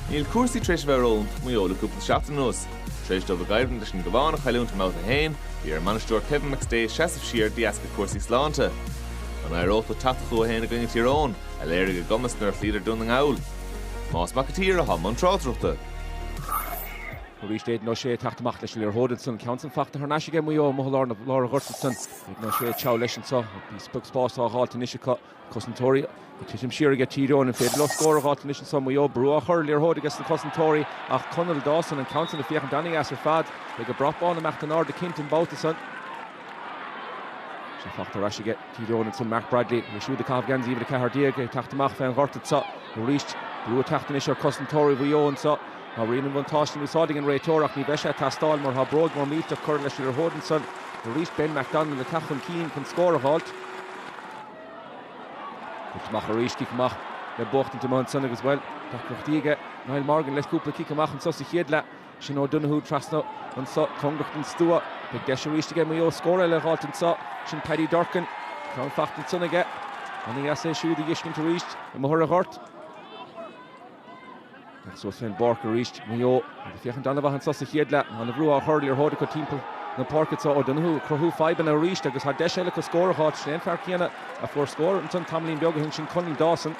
Níl cúrsaí tar éis a bheith ró-iontach do Mhaigh Eo le cúpla seachtain anuas. Tar éis dóibh a gcoimhlint leis an gCabhán a chailliúint i mbabhta a haon, bhí ar a mbainisteoir Kevin McStay seasamh siar de dheasca cúrsaí sláinte. An éireodh leo teacht chucu féin i gcoinne Thír Eoghain, a léirigh a gcumas nuair a chloíodar Dún na nGall? Tomás Mac a' tSaoir atá i mbun tráchtaireachta. Arís Aidan O'Shea ag teacht amach leis an liathróid ansan, an ceann san fachta thar n-ais aige Maigh Eo amuigh i lár an ghoirt ansan. Aidan O'Shea ag treabhadh leis anseo, níos beag spás á dh'fháilt anois acu. cosantóirí ag titim siar aige Tír Eoghain, an féidir leo scór a dh'fháilt anois anseo? Maigh Eo brú á chur, liathróid aige sna cosantóirí ach Conall Dawson, an ceann sin ag féachaint an-deas ar fad. Beidh an brat bán ag imeacht in airde cinnte an babhta seo. Sin fachta thar n-ais aige Tír Eoghain ansin Mark Bradley, é siúd ag caitheamh geansaí uimhir 14 ag teacht amach fén ngort anseo aríst. Brú ag teacht anois ar cosantóirí Mhaigh Eo anseo. Tá rian an bhuntáiste in úsáid ag an réiteoir ach ní bheidh sé ag teastáil mar tá bróig mhór millteach curtha leis an liathróid ansan. Aríst Ben McDonnell ag teacht chun cinn chun scór a dh'fháilt. Cic amach arís, cic amach le buachtaint amuigh ansan agus, bhuel, tá deacrachtaí aige Niall Morgan leis cúpla cic amach anso sa chéad leath. Sean O'Donoghue trasna anso, cóngarach don stua. Beidh deis arís aige Maigh Eo scór eile a dh'fháilt anso. Sin Paddy Durcan. Ceann fachta ansan aige. An-dheas é siúd a dheiscint arís? amuigh ar an ngort. Agus suas fén bpáirc arís Maigh Eo ag féachaint ana-bheomhar anso sa chéad leath. Tá ana-bhrú á chur ar liathróid acu timpeall na páirce so O'Donoghue ag cruthú fadhbanna arís agus thá deis eile acu scór a dh'fháilt is sé an fear céanna a fuair scór ansan tamaillín beag ó shin sin Conal Dawson.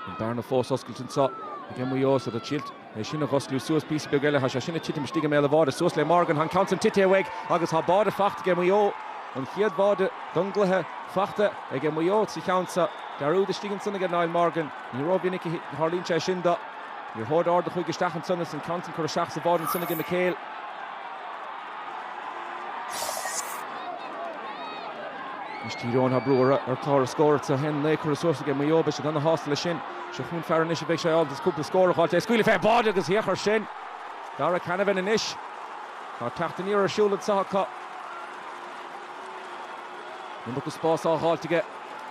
An bhearna fós á oscailt anso ag Maigh Eo so scór duilt. é sin a ghiotáil suas píosa beag eile, thá sé sin ag titim istigh i mbéal a' bháide. Suas le Morgan, thá an ceann san tite uaidh agus thá báide fachta aige Muigh Eó, an chéad bháide don gcluiche fachta aige Muigh Eó sa cheann san. Dearúd istigh ansan aige Niall Morgan. Ní ró mhinic a thárlaíonn sé sin dó. Liathróid ard a chuaigh isteach ansan is an ceann san curtha isteach sa bháide ansan aige McHale. Anois Tír Eoghain thá brú ortha ar clár na scór so 1 9 curtha suas aige Muigh Eó, beidh siad ana shásta le sin. Seo chugainn fear anois a bheidh sé ábalta cúpla scór a fháilt é a scaoileadh fé bháide agus thiocfadh ar sin. Darragh Canavan anois. Tá teacht aniar ar siúl anseo acu. Níos mó spás á fháilt aige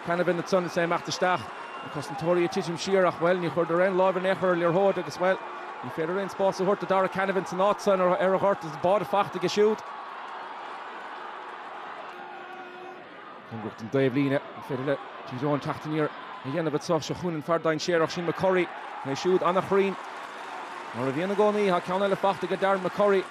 Canavan ansan is é ag imeacht isteach. Cosantóirí ag titim siar ach, bhuel, ní chuireadar aon láimh in aon chor ar liathróid agus, bhuel, ní féidir aon spás a thabhairt do Darragh Canavan san áit san ar an ngort is báide fachta aige siúd. Cóngarach don taobhlíne, an féidir le Tír Eoghain teacht aniar a dhéanamh anseo. Seo chugainn an fear dainséarach sin McCurry, é siúd an-chruinn mar a bhíonn i gcónaí. Tá ceann eile faighte aige Darren McCurry.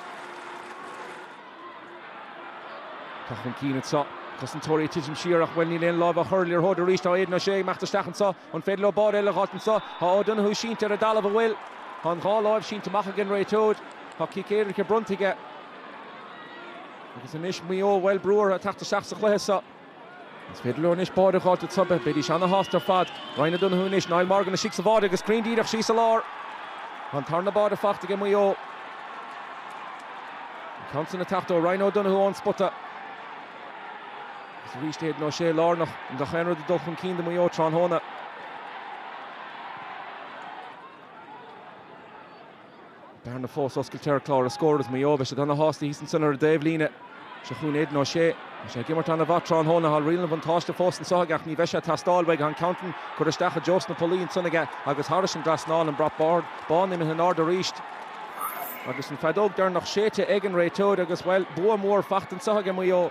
Teacht chun cinn anseo. Cosantóirí ag titim siar ach, bhuel, níl aon láimh á chur ar liathróid arís. Tá Aidan O'Shea ag imeacht isteach anseo. An féidir leo báide eile a dh'fháilt anseo? Tá O'Donoghue sínte ar an dtalamh, agus bhuel, tá an dhá láimh sínte amach ag an réiteoir. Tá cic éirice bronnta aige. Agus anois Maigh Eo Bhaile Brugha a theacht isteach sa chluiche seo. Is féidir leo anois báire a fháilt ag Tubbe, bheidís an-shásta ar fad. Ryan O'Donoghue anois, Niall Morgan istigh sa bháire agus ceann díreach síos i lár. Tá an tarna báire faighte aige Maigh Eo. An ceann sin a theacht ó Ryan O'Donoghue ón spota. Agus arís Aidan O'Shea lárnach i ngach aon rud ag dul chun cinn do Mhaigh Eo tráthnóna. Bearna fós oscailte ar chlár na scór agus Maigh Eo, beidh siad ana shásta thíos ansin ar an dtaobh líne. Seo chugainn Aidan O'Shea. Bhí sé ag imirt ana mhaith tráthnóna, thall riail an bhuntáiste fós anseo aige ach ní bheidh sé ag teastáil uaidh an ceann sin curtha isteach i dtreo sna pollaí ansin aige agus thairis an dtrasnán an brat bán imithe in airde arís agus an feadóg deireanach séidte ag an réiteoir agus bhuel, bua mór faighte anseo aige Maigh Eo.